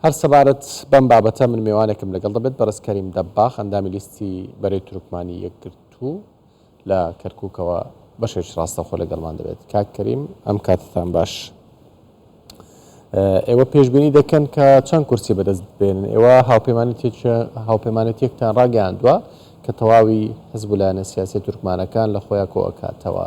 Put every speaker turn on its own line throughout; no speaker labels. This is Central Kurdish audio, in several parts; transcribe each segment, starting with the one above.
هەر سەبارەت بەم بابەتە من مێوانێکم لەگەڵ دەبێت، بەڕێز کەریم دەباغ، ئەندامی لیستی بەرەی تورکمانی یەکگرتوو لە کەرکوکەوە بەشێکی ڕاستەوخۆ لەگەڵمان دەبێت. کاک کەریم ئەم کاتتان باش. ئێوە پێشبینی دەکەن کە چەند کورسی بەدەست بێنن ئێوە هاوپەیمانێتێکتان ڕاگەیاندووە کە تەواوی حزب و لایەنە سیاسی تورکمانەکان لە خۆیان کۆ ئەکاتەوە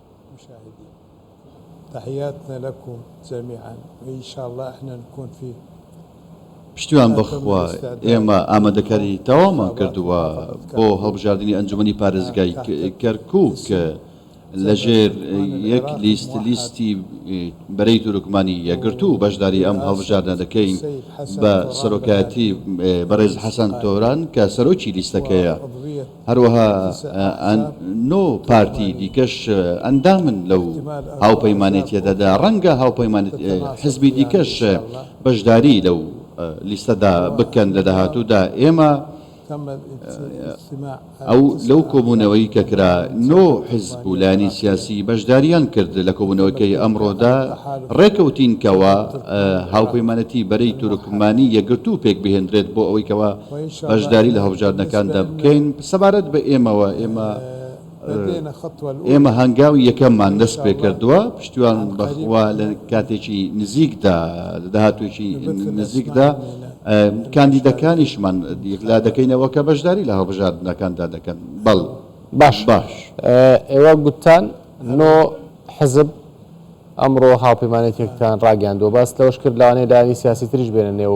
تحیاتنا لکم جمیعا و ان شاء اللە احنا نکون فی پشتیوان
بەخوا ئێمە ئامادەکاری تەواومان کردووە بۆ هەڵبژاردنی ئەنجومنی پارێزگای کەرکک لەژێر یەک لیست لیستی بەرەی تورکمانی یەکگرتوو بەشداری ئەم هەڵبژاردنە دەکەین بە سەرۆکایەتی بەڕێز حەسەن تۆران کە سەرۆکی لیستەکەیە. هەروەها نۆ پارتی دیکەش ئەندامن لەو هاوپەیمانێتیەدەدا ڕەنگە هاوپەیمان حزبی دیکەش بەشداری لەو لیستەدا بکەن لە داهاتوودا ئێمە ئەو لەو کۆبوونەوەی کە کرا نۆ حزب و لانی سیاسی بەشداریان کرد لە کۆبوونەوەکەی ئەمڕۆدا ڕێکەوتینکەوە هاوپەیمانەتی بەرەی تورکمانی یەگرتو پێک بهێندرێت بۆ ئەوەیکەوە بەشداری لە هەڵبژاردنەکاندا بکەین، سەبارەت بە ئێمەوە ئێمە ئێمە هەنگاوی یەکەممان دەست پێکردووە، پشتیوان بە خوا لە کاتێکی نزیکدا لە داهاتوێکی نزیکدا کاندیدەکانیشمان یەکلا دەکەینەوە کە بەشداری لە هەڵبژاردنەکاندا دەکەن. بەڵ. باش.
ئێوە گوتتان نۆ حزب ئەمڕۆ هاوپەیمانێتیەکتان ڕاگەیاندووە، باست لەوەش کرد لەوانەیە لایەنی سیاسی تریش بێنە نێو.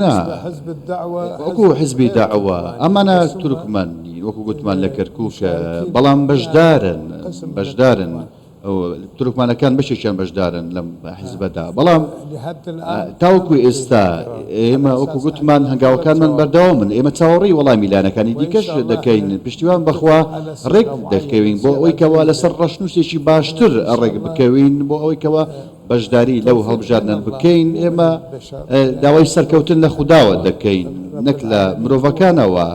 نا، وەکو حزبی دەعوە، ئەمانە تورکمان نین، وەکو گوتمان لە کەرکوک، بەڵام بەشدارن، بەشدارن، تورکمانەکان بەشێکیان بەشدارن لەم حزبەدا، بەڵام تاوەکو ئێستا ئێمە وەکو گوتمان هەنگاوەکانمان بەردەوامن، ئێمە چاوەڕێی وەڵامی لایەنەکانی دیکەش دەکەین، پشتیوان بەخوا ڕێک دەکەوین بۆ ئەوەی کەوا لەسەر ڕەشنووسێکی باشتر ڕێک بکەوین بۆ ئەوەی کەوا. بەشداری لەو هەڵبژاردنە بکەین ئێمە داوای سەرکەوتن لە خوداوە دەکەین نەک لە مرۆڤەکانەوە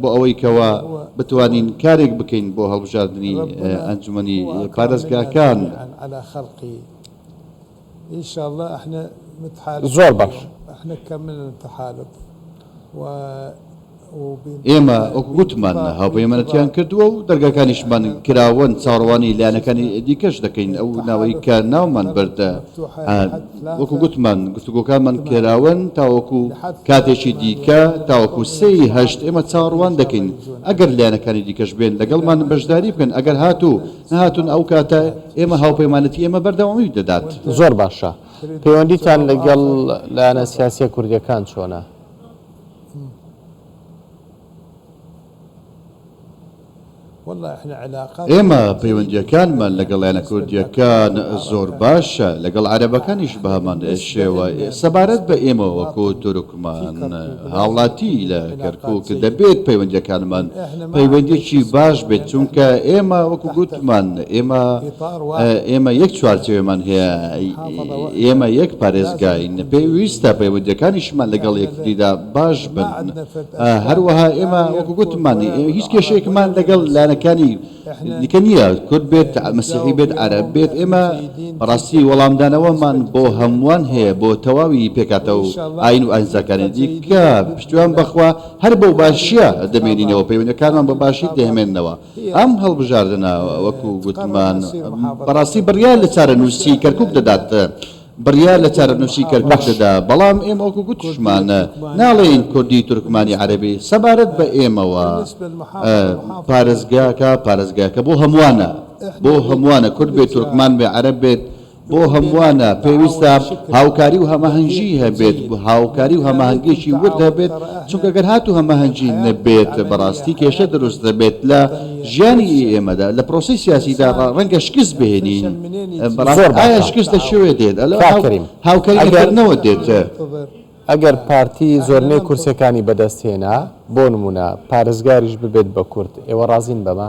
بۆ ئەوەی کەەوە بتوانین کارێک بکەین بۆ هەڵبژاردننی ئەنجومی پارێزگاکان
زۆر باش
ئێمە وەکو گوتمان هاوپەیمانەتیان کردووە و دەرگاکانیشمان کراوەن، چاوەڕوانی لایەنەکانی دیکەش دەکەین، ئەو ناوەی کە ناومان برد وەکو گوتمان گفتوگۆکانمان کراوەن تاوەکو کاتێکی دیکە تاوەکو سێ ی هەشت ئێمە چاوەڕوان دەکەین ئەگەر لایەنەکانی دیکەش بێن لەگەڵمان بەشداری بکەن ئەگەر هاتوو نەهاتوون ئەو کاتە ئێمە هاوپەیمانەتی ئێمە بەردەوامی دەدات. زۆر باشە
پەیوەندیتان لەگەڵ لایەنە سیاسییە کوردییەکان چۆنە؟
ئێمە پەیوەندییەکانمان لەگەڵ لایەنە کوردییەکان زۆر باشە، لەگەڵ عەرەبەکانیش بەهەمان شێوە. سەبارەت بە ئێمە وەکو تورکمان. هاوڵاتی لە کەرکوک دەبێت پەیوەندیەکانمان پەیوەندیەکی باش بێت چونکە ئێمە وەکو گوتمان ئێمە ئێمە یەک چوارچێوێمان هەیە ئێمە یەک پارێزگاین پێویستە پەیوەندیەکانیشمان لەگەڵ یەکتریدا باش بن هەروەها ئێمە وەکو گوتمان هیچ کێشەیەکمان لەگەڵ لایەنەکانی دیکە نییە کورد بێت مەسیحی بێت عەرەب بێت ئێمە بەڕاستی وەڵامدانەوەمان بۆ هەمووان هەیە بۆ تەواوی پێکاتە و ئاین و ئاینزاکانی دیکە پشتیوان بەخوا هەر بەو باشیە دەمێنینەوە پەیوەندەکانمان بە باشی دەهمێنەوە ئەم هەڵبژاردنە وەکو گوتمان بەڕاستی بڕیار لە چارەنووسی کەرکوک دەدات بڕیار لە چارەنووسی کەرکووکدەدا، بەڵام ئێمە وەکو گوتیشمان ناڵێین کوردی تورکمانی عەرەبی، سەبارەت بە ئێمەوە پارێزگاکە پارێزگاکە بۆ هەمووانە، بۆ هەمووانە کورد بێت تورکمان بێت عەرەب بێت بۆ هەمووانە، پێویستە هاوکاری و هەماهەنگی هەبێت، هاوکاری و هەماهەنگیەکی ورد هەبێت، چونکە گەر هاتوو هەماهەنگی نەبێت بەڕاستی کێشە دروست دەبێت لە ژیانی ئێمەدا، لە پرۆسەی سیاسیدا ڕەنگە شکست بهێنین. بەڕاستی ئایا شکست لە کوێ دێت کاک کەریم هاوکاری لە کردنەوە دێت؟ ئەگەر
پارتی زۆرنەی کورسێکانی بەدەست هێنا بۆ نمونە پارێزگاریش ببێت بە کورد ئێوە ڕازین بەمە؟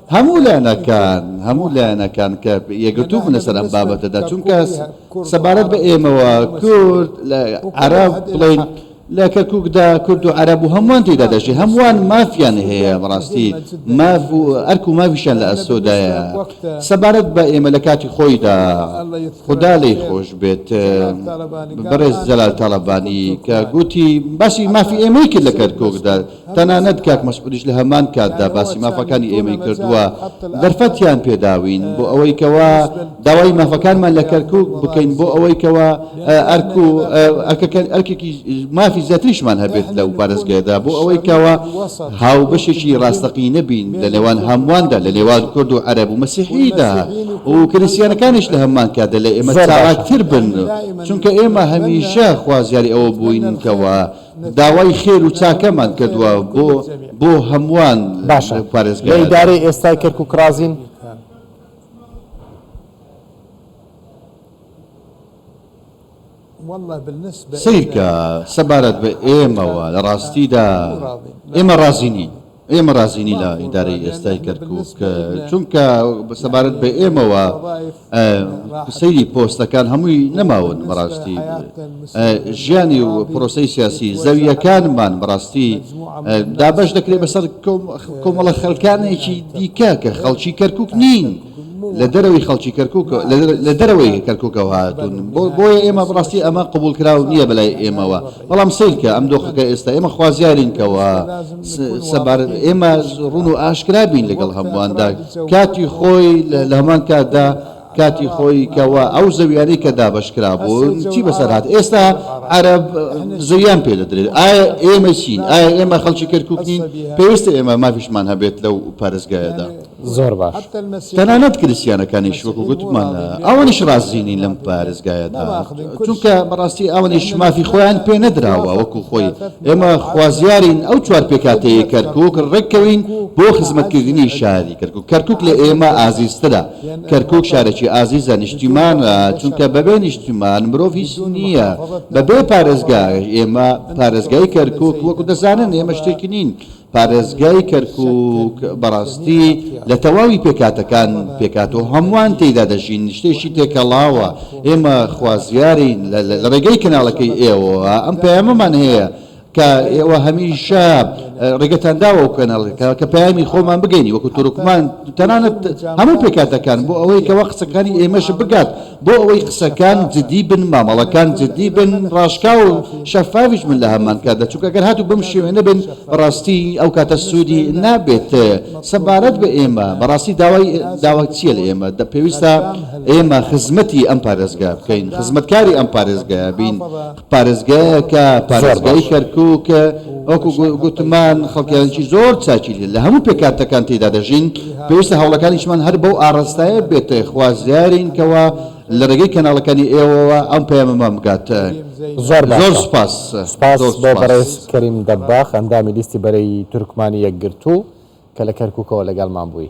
هەموو لایەنەکان هەموو لایەنەکان کە یەکگرتوو بوون لەسەر ئەم بابەتەدا، چونکە سەبارەت بە ئێمەوە کورد لە عەرەب بڵێین لە کەرکووکدا کورد و عەرەب و هەمووان تێیدا دەژی، هەمووان مافیان هەیە بەڕاستی ماف و ئەرک و مافیشیان لە ئەستۆدایە. سەبارەت بە ئێمە لە کاتی خۆیدا خودا لێی خۆش بێت بەڕێز جەلال تاڵەبانی کە گوتی باسی مافی ئێمەی کرد لە کەرکووکدا، تەنانەت کاک مەسعودیش لە هەمان کاتدا باسی مافەکانی ئێمەی کردووە، دەرفەتیان پێداوین بۆ ئەوەی کەوا داوای مافەکانمان لە کەرکوک بکەین بۆ ئەوەی کەوا ئەرک و ئەرکێکی مافی زیاتریشمان هەبێت لەو پارێزگەیەدا بۆ ئەوەی کەوا هاوبەشێکی ڕاستەقینە بین لە نێوان هەموواندا لە نێوان کورد و عەرەب و مەسیحیدا و کریستیانەکانیش لە هەمان کاتدا لە ئێمە چالاکتر بن چونکە ئێمە هەمیشە خوازیاری ئەوە بووین کەوا داوای خێر و چاکەمان کردوە بۆ بۆ هەمووان باشە پارێزگا لە ئیدارەی ئێستای
کەرکوک ڕازین؟
سەیرکە سەبارەت بە ئێمەوە لە ڕاستیدا ئێمە ڕازی نین. ئێمە رازی نین لە ئیدارەی ئێستای کەرکووک، چونکە سەبارەت بە ئێمەوە سەیری پۆستەکان هەمووی نەماون، بەڕاستی ژیانی و پرۆسەی سیاسی زەوییەکانمان بەڕاستی دابەش دەکرێت بەسەر کۆمەڵە خەلکانێکی دیکە کە خەڵکی کەرکووک نین. لە دەرەوەی خەڵکی کەرکوک لە دەرەوەی کەرکوکەوە هاتون بۆیە ئێمە بڕاستی ئەمە قبول کراو نییە بەلای ئێمەوە بەڵام سیرکە ئەم دۆخەکە ئێستا ئێمە خوازیارینکەوە سەبار ئێمە ڕون و ئاشکرا بین لەگەڵ هەموواندا کاتی خۆی لە هەمان کاتدا کاتی خۆی کەەوە ئەو زەویانی کە دابشکرا بوون چی بەسەرات ئێستا عرب زویان پێ دەدرێت ئایا ئێمە چین ئایا ئێمە خەڵکی کەرکوکنین پێویستە ئێمە مافیشمان هەبێت لەو پارێزگایەدا. زۆر
باش تەنانەت
کریسیانەکانیش وەکو گوتمان ئەوانیش ڕازی نین لەم پارێزگایەدا چونکە بەڕاستی ئەوانیش مافی خۆیان پێ نەدراوە وەکو خۆی ئێمە خوازیارین ئەو چوار پێکاتەیە کەرکک ڕێککەوین بۆ خزمەتکردنی شاری کەرکک کەرکک لە ئێمە ئازیزترە کەرکک شارێکی ئازیزە نیشتیمان چونکە بەبێ نیشتیمان مرۆڤ هیچ نییە بەبێ پارێزگا ئێمە پارێزگای کەرکک وەکو دەزانن ئێمە شتێکی نین پارێزگای کەرکوک بەڕاستی لە تەواوی پێکهاتەکان پێکهاتووە و هەمووان تێیدا دەژین، شتێکی تێکەڵاوە، ئێمە خوازیارین لە ڕێگەی کەناڵەکەی ئێوەوە ئەم پەیامەمان هەیە کە ئێوە هەمیشە ڕێگەتان داوە ئەو کەناڵەکە کە پەیامی خۆمان بگەینی وەکو تورکمان تەنانەت هەموو پێکهاتەکان بۆ ئەوەی کەوا قسەکانی ئێمەش بگات. بۆ ئەوەی قسەکان جدی بن مامەڵەکان جدی بن ڕاشکاو و شەفافیش بن لەهەمان کاتدا چونکە ئەگەر هاتوو بەم شێوەیە بن بەڕاستی ئەو کاتە سودی نابێت سەبارەت بە ئێمە بەڕاستی داوای داوا چیە لە ئێمە پێویستە ئێمە خزمەتی ئەم پارێزگا بکەین خزمەتکاری ئەم پارێزگا بین پارێزگایەکە، زۆر پارێزگای باشە. کەرکوک، وەکو گو- گوتمان خەڵکیانێکی زۆر چاکی لە هەموو پێکهاتەکان تێیدا دەژین، پێویستە هەوڵەکانیشمان هەر بەو ئاڕاستایە بێت، خوازیارین کەوا لە رێگەی کەناڵەکانی ئێوەوە ئەم پەیامەمان بگات. زۆر باشە. زۆر
سوپاس.
سوپاس زۆر بۆ
بەڕێز سوپاس. کەریم دەباخ، ئەندامی لیستی بەرەی تورکمانی یەکگرتوو کە لە کەرکوکەوە لەگەڵمان بووی.